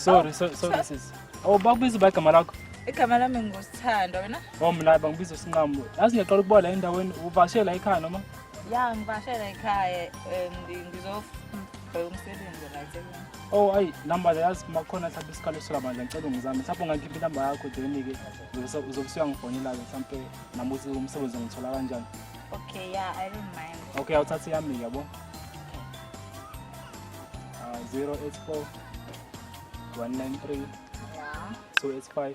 sorry sorry sorry sisi awubakubiza uba igama lakho igama lami ngusithanda wena oh mlaba ngibiza usinqamu yazi ngiyaqala ukubola endaweni uvashela ikhaya noma ya ngibashela ekhaya um, ndi- ngizobheka umsebenzi la eThekwini. Oh ayi namba yazi makhona mhlawumbe isikalo sola bandla ngicela ungizame mhlawumbe ungangikhipha inamba yakho then-ke uzobe- uzobe usuyangifonela-ke mhlawumbe nami ukuthi umsebenzi ngithola kanjani okay ya i don't mind okay awuthathe yami yabo Ah, 084 193 ya 285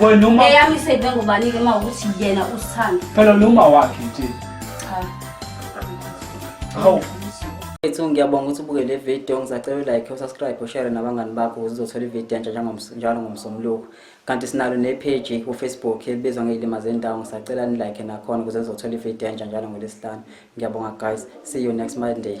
wena uma eyami iseyive ngobani-ke uma ukuthi yena usithanda phela noma wakhe nje cha hawu Mfethu ngiyabonga ukuthi ubuke le video ngizacela u-like usubscribe ushare nabangani bakho ukuze uzothola ivideo entsha njengoms- njalo ngomsombuluko kanti sinalo nepage kufacebook ebizwa ngeyilima zendawo ngisacela nilike nakhona ukuze nizothola ivideo entsha njalo ngolwesihlanu ngiyabonga guys see you next monday